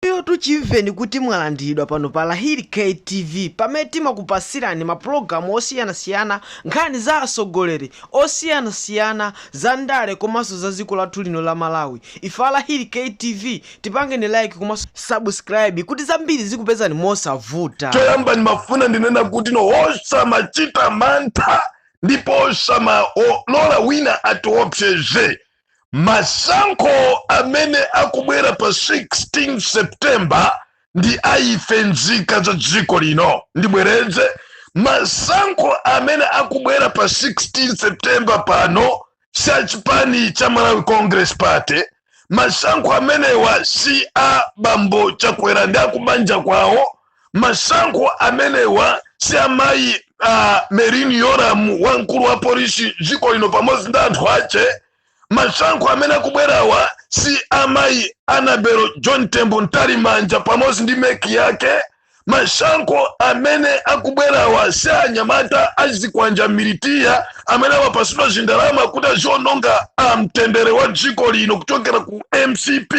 Inuyotu chimveni kuti mwalandiridwa pano pa Lahiri K TV pamene timakupasirani ma pulogalamu osiyanasiyana, nkhani za asogoleri osiyanasiyana, za ndale komanso za ziko lathu lino la Malawi. Ife a Lahiri K TV tipangeni like komanso subscribe kuti zambiri zikupezani mosavuta. Choyamba ndimafuna ndinena kuti no tisamachite mantha ndipo tisamalole wina atiopseze masankho amene akubwera pa 16 september ndi a ife nzika za dziko lino ndibwereze masankho amene akubwera pa 16 september pano si a chipani cha malawi congress party masankho amenewa si a bambo chakwera ndi akubanja kwawo masankho amenewa si a mayi a Merlyne Yolamu wamkulu wa polisi mdziko lino pamodzi ndi anthu ache masankho amene akubwerawa si a mayi Annabel Chanthunya mtalimanja pamodzi ndi MEC yake masankho amene akubwerawa si a anyamata azikwanja militia amene amapasidwa zindalama kuti aziononga amtendere wa dziko lino kuchokera ku mcp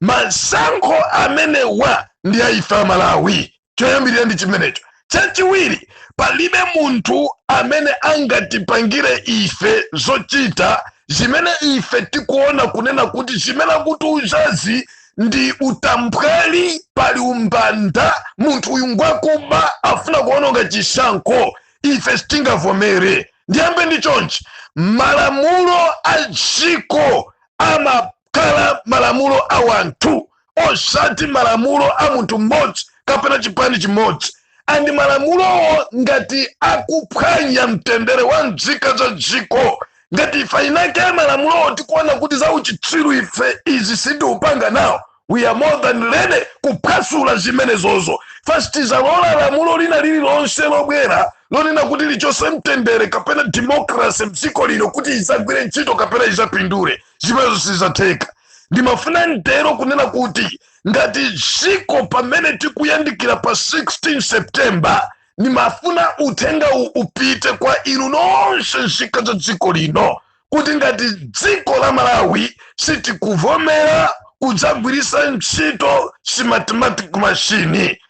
masankho amenewa ndi a ife amalawi choyambirira ndi chimenecho chachiwiri palibe munthu amene angatipangire ife zochita zimene ife tikuona kunena kuti zimene akutiuzazi ndi utambwali pali umbanda munthu uyu ngwakuba afuna kuononga chisankho ife sitingavomere ndiyambe ndi chonchi malamulo a dziko amakhala malamulo a wanthu osati malamulo a munthu mmodzi kapena chipani chimodzi and malamulowo ngati akuphwanya mtendere wa mzika za dziko ngati ifeyo nde malamulowo tikuona kuti za uchitsiru ife izi sitikupanga nawo we are more than ready kuphwasula zimenezozo sitizalola lamulo lina lililonse lobwera lonena kuti lichose mtendere kapena democracy mdziko lino kuti izagwire ntchito kapena izapindule zimenezo sizatheka ndimafuna nditero kunena kuti ngati dziko pamene tikuyandikira pa 16 september ndimafuna uthenga uwu upite kwa inu nonse nzika za dziko lino kuti ngati dziko la malawi sitikuvomera kudzagwiritsa ntchito smartmatic machine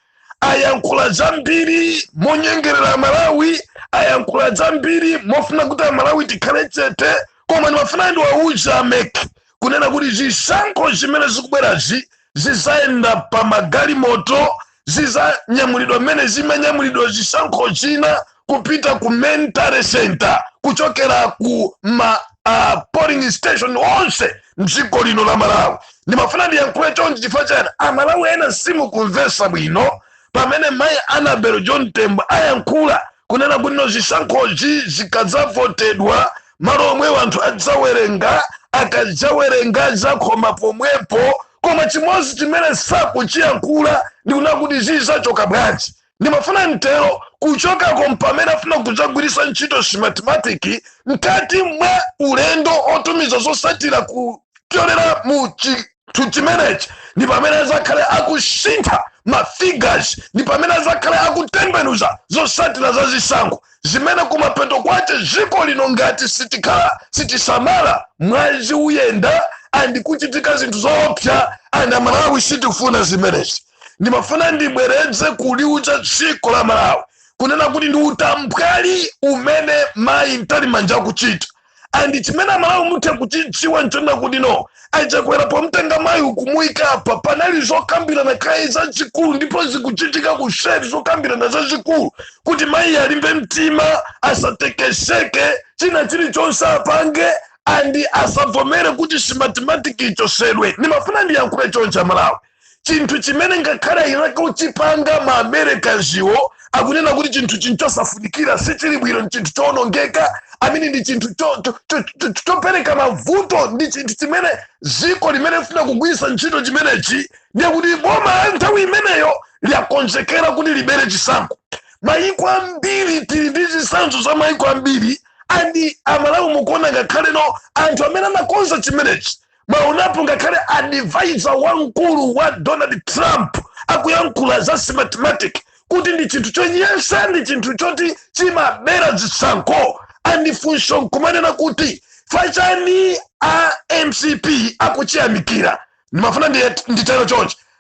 ayankhula zambiri monyengerera amalawi ayankhula zambiri mofuna kuti amalawi tikhale chete koma ndimafuna ndiwauze a MEC kunena kuti zisankho zimene zikubwerazi zizayenda pa magalimoto zizanyamulidwa mmene zimanyamulidwa zisankho zina kupita ku main tally center kuchokera ku ma uh, polling station onse mdziko lino la malawi ndimafuna ndiyankhule chonchi chifukwa chani amalawi ena simukumvesa bwino pamene mayi annabel mtalimanja ayankhula kunena kuti no zisankhozi zikadzavotedwa malo omwewo anthu adzawerenga akadzawerenga adzakhoma pomwepo koma chimodzi chimene sakuchiyankhula ndikunena kuti zizachoka bwanji ndimafuna nditero kuchokako mpamene afuna kudzagwiritsa ntchito smartmatic mkati mwa ulendo otumiza zosatira kupyolera mu chinthu chimenechi ndi pamene azakhale akusintha mafigures ndi pamene azakhale akutembenuza zosatira za zisankho zimene kumapeto kwace dziko lino ngati sitikhala sitisamala mwazi uyenda andikuchitika zinthu zoopsa and amalawi sitifuna zimenezi ndimafuna ndibwereze kuliuza dziko la malawi kunena kuti ndi utambwali umene mayi mtalimanja akuchita and chimene amalawi muthe kuchidziwa nchonena kuti no achakwera pomtenga mayi ukumuika apa panali zokambirana kaye zazikulu ndipo zikuchitika kuseri zokambirana zazikulu kuti mayi alimbe mtima asatekeseke china chilichonse apange andi asabvomere kuti smartmatic ichosedwe ndimafuna ndiyankhule chonchi amalawi chinthu chimene ngakhale eni ake ochipanga ma americanswo akunena kuti chinthu nchosafunikira sichili bwino ndi chinthu chowonongeka amene ndi chinthu cho- cho- cho- cho- cho- chopereka mavuto ndi chinthu chimene ziko limene lifuna kugwiritsa ntchito chimenechi ndiye kuti boma la nthawi imeneyo liyakonzekera kuti libere chisankho mayiko ambiri tili ndi zitsanzo za mayiko ambiri andi amalawi mukuona ngakhale no anthu amene anakonza chimenechi mwaonapo ngakhale advisor wamkulu wa donald trump akuyankhula za smartmatic kuti ndi chinthu chonyasa ndi chinthu choti chimabera zisankho andifunso nkumanena kuti chifukwa chani a mcp akuchiyamikira ndimafuna ndi- nditero chonchi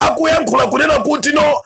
akuyankhula kunena kuti no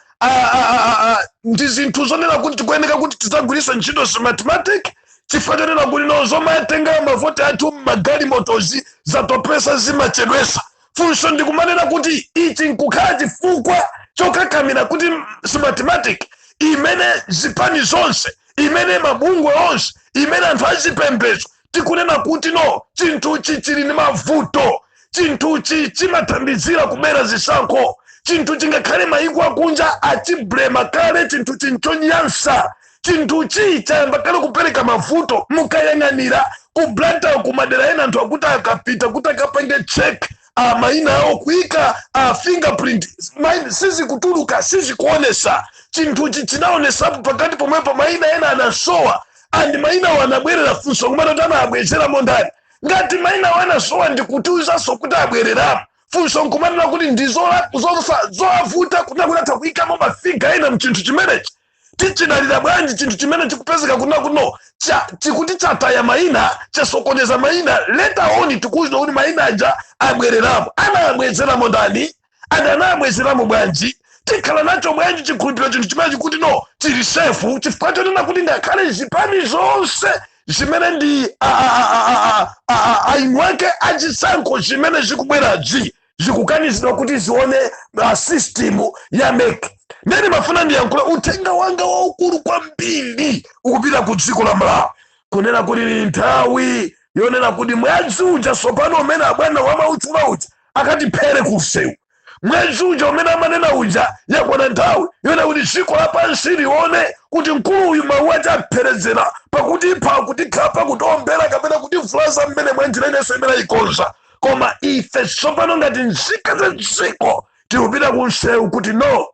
ndi zinthu zonena kuti tikuyeneka kuti tidzagwiritse ntchito smartmatic chifukwa chonena kuti no zomatenga mavoti athu mmagalimotozi zatopesa zimachedwesa funso ndikumanena kuti ichi chingakhale chifukwa chokakamira kuti smartmatic imene zipani zonse imene mabungwe onse imene anthu azipembezo tikunena kuti no chinthuchi chili ndi mavuto chinthuchi chimathandizira kubera zisankho chinthuchi ngakhale mayiko akunja achiblema kale chinthuchi nchonyansa chinthuchi chayamba kale kupereka mavuto mukayang'anira ku blantyre kumadera ena anthu akuti akapita kuti akapange check a mayina awo akuika fingerprint mayi- sizikutuluka sizikuonesa chinthuchi chinaonesapo pakati pomwepo mayina ena anasowa and mainawa anabwerera funso nkumanena kuti anawabwezeramo ndani ngati mainawa anasowa nkutiuzanso kuti abwereramo funso nkumanena kuti ndizola- zosa- zowavuta kuti akhoza kutha kuyikamo mafiga ena mchinthu chimenechi tichidalira bwanji chinthu chimene chikupezeka kuna kuno cha- chikuti chataya maina chasokoneza maina later on tikuuzidwa kuti maina aja abwereramo anawabwezeramo ndani and anawabwezeramo bwanji tikhala nacho bwanji chikhulupiriro chinthu chimene chikuti no sichili safe chifukwa chonena kuti ngakhale zipani zonse zimene ndi a- a- a- a- a- a- a- eni ake achisankho zimene zikubwerazi zikukanizidwa kuti zione uh, system ya MEC nde ndimafuna ndiyankhule uthenga wanga waukulu kwambiri ukupita ku dziko la malawi kunena kuti ni nthawi yonena kuti mwezi uja sopano umene abwana amautchula uja akatiphere kumsewu mwazi uja umene amanena uja yakwana nthawi yonena kuti dziko lapansi lione kuti mkulu uyu mawu ake apherezera pakutipha kutikhapa kutiombera kapena kutivulaza mmene mwanjira inanso imene ayikonza koma ife tsopano ngati nzika za dziko tikupita kumsewu kuti no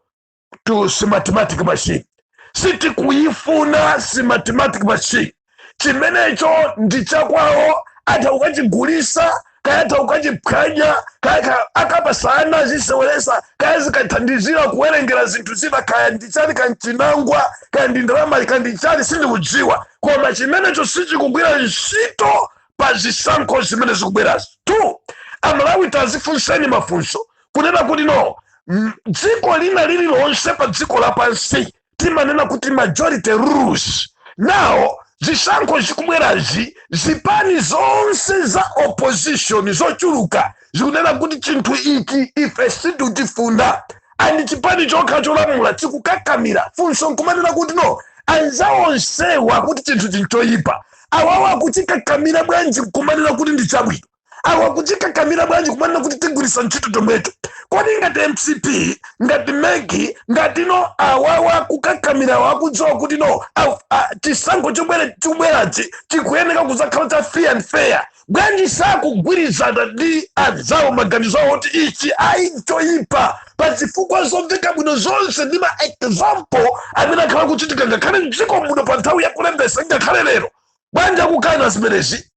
to smartmatic machine sitikuyifuna smartmatic machine chimenecho ndi chakwawo atha kukachigulisa kaya atha kukachiphwanya kaya ka- akapasa ana aziseweresa kaya zikathandizira kuwerengera zinthu zina kaya ndichani kaya nchinangwa kaya ndi ndalama kaya ndichani sindikudziwa koma chimenecho sichikugwira ntchito pa zisankho zimene zikubwerazo two amalawi tazifunseni mafunso kunena kuti no mm, dziko lina lililonse pa dziko lapansi timanena kuti majority rules now zisankho zikubwerazi zipani zonse za opposition zochuluka zikunena kuti chinthu ichi ife sitikuchifuna and chipani chokha cholamula chikukakamira funso nkumanena kuti no anzawo onsewa akuti chinthuchi nchoyipa awawa akuchikakamira bwanji nkumanena kuti ndi chabwino awa akuchikakamira bwanji kumanena kuti tigwiritsa ntchito chomwecho kodi ngati mcp ngati mec ngati no awawa akukakamirawa akudziwa kuti no aw- a- chisankho chobwera chikubwerachi chikuyeneka kuzakhala cha free and fair bwanji sakugwirizana ndi anzawo maganizo awo kuti ichi ayi choyipa pa zifukwa zomveka bwino zonse ndi ma example amene akhala akuchitika ngakhale mdziko muno pa nthawi ya kulembesa ngakhale lero bwanji akukana zimenezi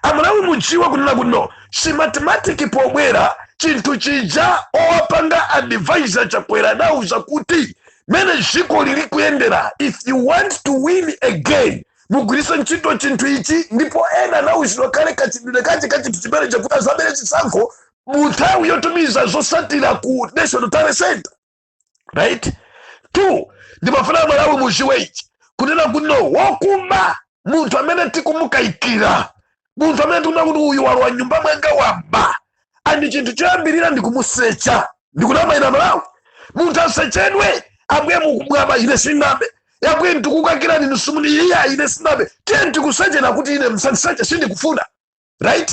amalawi mudziwe kunena kuti no smartmatic pobwera chinthu chija owapanga advise chakwera adawauza kuti mene dziko lili kuyendera if you want to win again mugwiritse ntchito chinthu ichi ndipo ena anauzidwa kale kachidule kache ka chinthu chimene chakuti azabere chisankho mu nthawi yotumiza zosatira ku national tally center right two ndimafuna amalawi muziwe ichi kunena kuti no wokuba munthu amene tikumukayikira munthu amene tikuona kuti uyu walowa mnyumba mwanga waba and chinthu choyambirira ndikumusecha ndikunama ine amalawi munthu asechedwe ambuye uyu waba ine sinabe yabwe ndikukayikirani nisumuni iya ine sinabe tiye ndikuseche akuti ine musandiseche sindikufuna right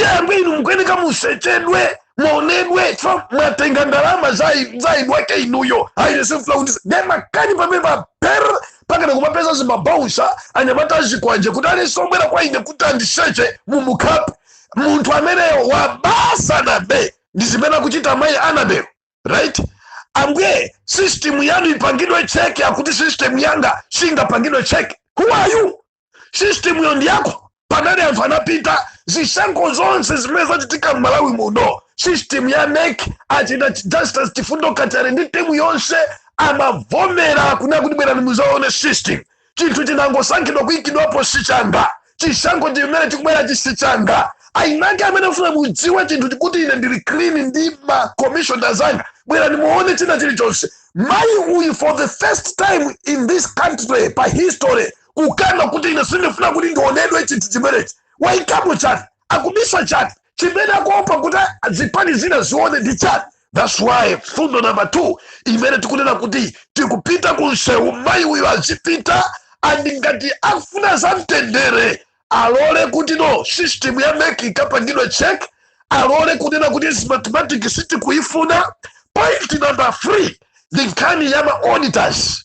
yamwe inu mukuyeneka musechedwe muonedwe chifukwa mwatenga ndalama zai- zaidwake inuyo airesefula kuti ndemakani pamene paper pakana kumapeza zimabaunsa anyamata azikwanje kuti alisombwera kwa ine kuti andiseche mumukapu munthu ameneyo waba sanabe ndi zimene akuchita mayi annabel right ambuye system yanu ipangidwe check akuti system yanga singapangidwe check who are you system yo ndi yako pamene anthu anapita zisankho zonse zimene zachitika m'malawi muno system ya mec achita justice chifundo kachale ndi timu yonse amavomera kunena kuti bwerani muzaone system chinthu chinangosankhidwa kuikidwapo sichanga chisankho chimene chikubwerachi sichanga ainake amene afuna mudziwe chinthu chikuti ine ndili clean ndi makomishona zanga bwerani muone china chilichonse mayi uyu for the first time in this country pa history kukana kuti ine sindifuna kuti ndionedwe chinthu chimenechi waikamo chani akubisa chani chimene akuopa kuti zipani zina zione ndi chani thats why mfundo number two imene tikunena kuti tikupita ku msewu mayi uyo azipita and ngati akufuna za mtendere alole kuti no system ya mec ikapangidwe check alole kunena kuti smartmatic sitikuyifuna point number three ndi nkhani ya ma auditors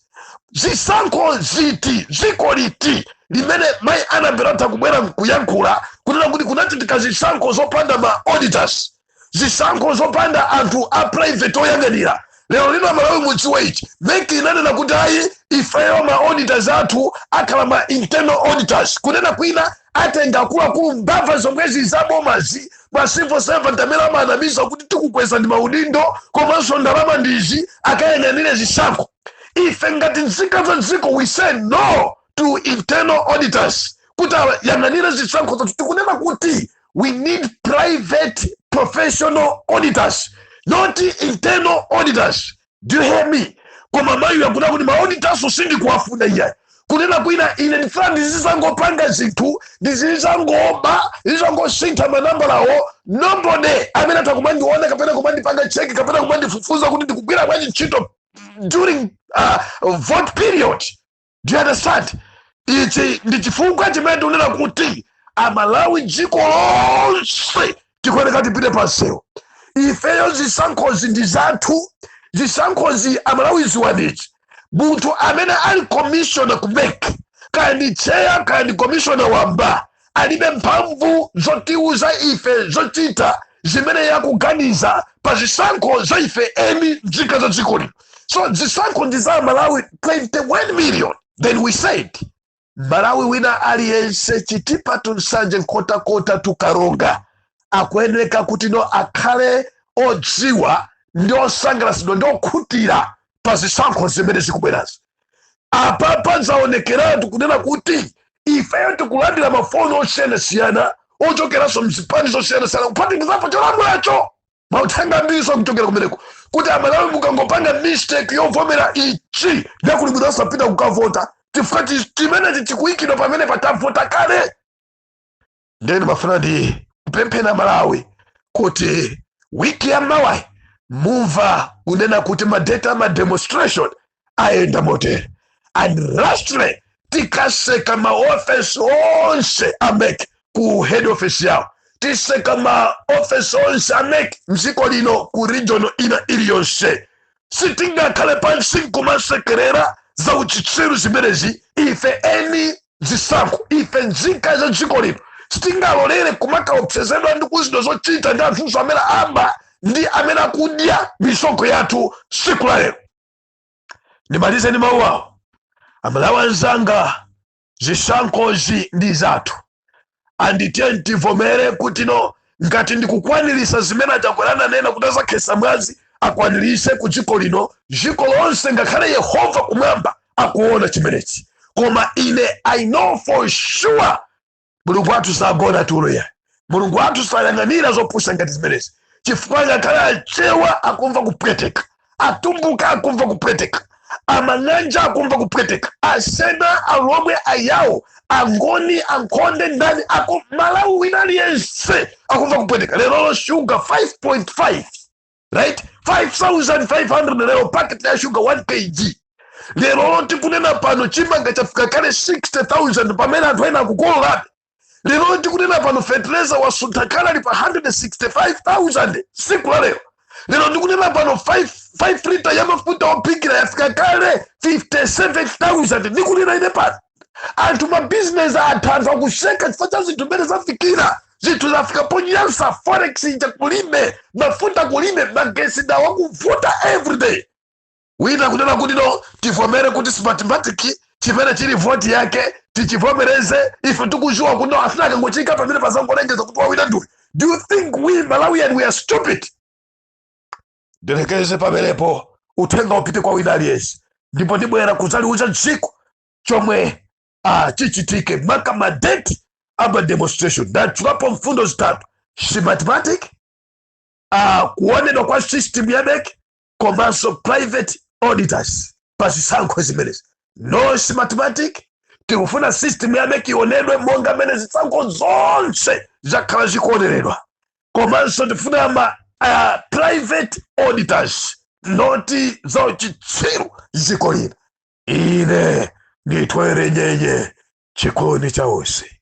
zisankho ziti dziko liti limene mayi annabel atha kubwera nkuyankhula kunena kuti kunachitika zisankho zopanda ma auditors zisankho zopanda anthu a private oyang'anira lero lino amalawi mudziwe ichi mec inanena kuti ayi ifeyo ma auditors athu akhala ma internal auditors kunena kwina atenga akuluakulu mbava zomwezi zabomazi ma civil servant amene amanamizidwa kuti tikukwezani maudindo komanso ndalama ndi izi akayang'anire zisankho ife ngati nzika za dziko we say no to internal auditors kuti ayang'anire zisankho zathu tikunena kuti we need private professional auditors not internal auditors do you hear me koma mayiyu akunena kuti maauditors sindikuwafuna iyayi kunena kwina ine ndifuna ndizizangopanga zinthu ndizizangoba ndizizangosintha manambalawo nobody amene atha kumandiona kapena kumandipanga cheki kapena kumandifufuza kuti ndikugwira bwanji ntchito during uh, vote period do you understand ichi ndi chifukwa chimene ndikunena kuti amalawi dziko lonse tikuyeneka tipite pansewu ifeyo zisankhozi ndi zathu zisankhozi amalawi dziwani ichi munthu amene ali commissioner ku mec kaya ndi cheya kaya ndi commissioner wamba alibe mphamvu zotiuza ife zochita zimene iye akuganiza pa zisankho za ife eni nzika za dziko lino so zisankho ndi za malawi 21 million then we say mmalawi wina aliyense chitipa to nsanje nkhotakota to karonga akuyeneka kuti no akhale odziwa ndi osangalasidwa ndi okhutira pa zisankho zimene zikubwerazi apapa zaonekeratu kunena kuti ifeyo tikulandira mafoni osiyanasiyana ochokeranso mzipani zosiyanasiyana kuphatikizapo cholamulacho mauthenga ambiriso akuchokera kumeneko kuti amalawi mukangopanga mistake yovomera ichi nde kuli bwino osapita kukavota chifukwa chi- chimenechi chikuyikidwa pamene patavota kale nde ndimafuna ndikupempheni amalawi kuti wiki ya mawayi mumva kunena kuti madate a mademonstration ayenda motere and lastly tikatseka maofesi onse a mec ku head office yawo titseka maofesi onse a mec mdziko lino ku region ina iliyonse sitingakhale pansi nkumasekerera za uchitsiru zimenezi ife eni zisankho ife nzika za dziko lino sitingalolere kumakaopsezedwa ndi kuuzidwa zochita ndi anthuso amene aba ndi amene akudya misonkho yathu tsiku la lero ndimalize ndi mawu awo amalawi anzanga zisankhozi ndi zathu anditiyeni tivomere kuti no ngati ndikukwanirisa zimene a Chakwera ananena kuti azakhetsa mwazi akwanirise ku dziko lino dziko lonse ngakhale yehova kumwamba akuona chimenechi koma ine i know for sure mulungu wathu sagona tulo ayi mulungu wathu sayang'anira zopusa ngati zimenezi chifukwa ngakhale achewa akumva kupweteka atumbuka akumva kupweteka amang'anja akumva kupweteka asena alomwe ayawo angoni ankhonde ndani aku malawi wina aliyense akumva kupweteka lerolo shuga 5.5 right 5500 lero paketi ya shuga 1 kg lerolo tikunena pano chimanga chafika kale 60000 pamene anthu ena akukolorabe lero ndikunena pano fetereza wasuntha kale ali pa 165000 siku la lero lero ndikunena pano 5 lita ya mafuta ophikira yafika kale 57000 ndikunena ine pano anthu mabizinesi atha anthu akutseka chifukwa cha zinthu mmene zafikira zinthu zafika ponyansa forex ija kulime mafuta kulime magesi dawa kuvuta everyday wina kunena kuti no tivomere kuti smartmatic chimene chili voti yake tichivomere ife tikuziwa kuti no afuna akangofika pamene azangolengeza kuti wawina ndiwe do you think we malawian we are stupid ndilekeze pamenepo uthenga upite kwa wina aliyense ndipo ndibwera kudzauza dziko chomwe ah, chichitike maka madeti ama demonstration ndatchulapo mfundo zitatu smartmatic ah, kuonedwa kwa system ya MEC komanso private auditors pa zisankho zimenezi no smartmatic tikufuna system ya mec ionedwe monga mmene zisankho zonse zakhala zikuoneredwa komanso tifuna ma uh, private auditors not zauchitsiru zikomo dzina ine nditwere nyenye chikoni cha onse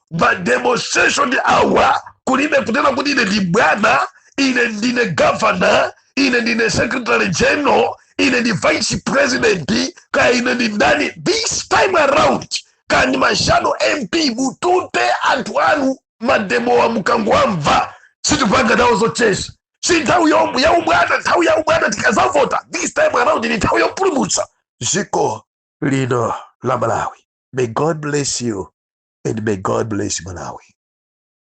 mademonstration awa kulibe kunena kuti ine ndi bwana ine ndine governor ine ndine secretary general ine ndi vice president kaya ine ndi ndani this time around kaya ndi ma shadow mp mutute anthu anu mademowa mukangowamva sitipanga nawo zocheza si nthawi yo- ya ubwana nthawi ya ubwana tikazavota this time around ndi nthawi yopulumutsa dziko lino la malawi may god bless you and may god bless malawi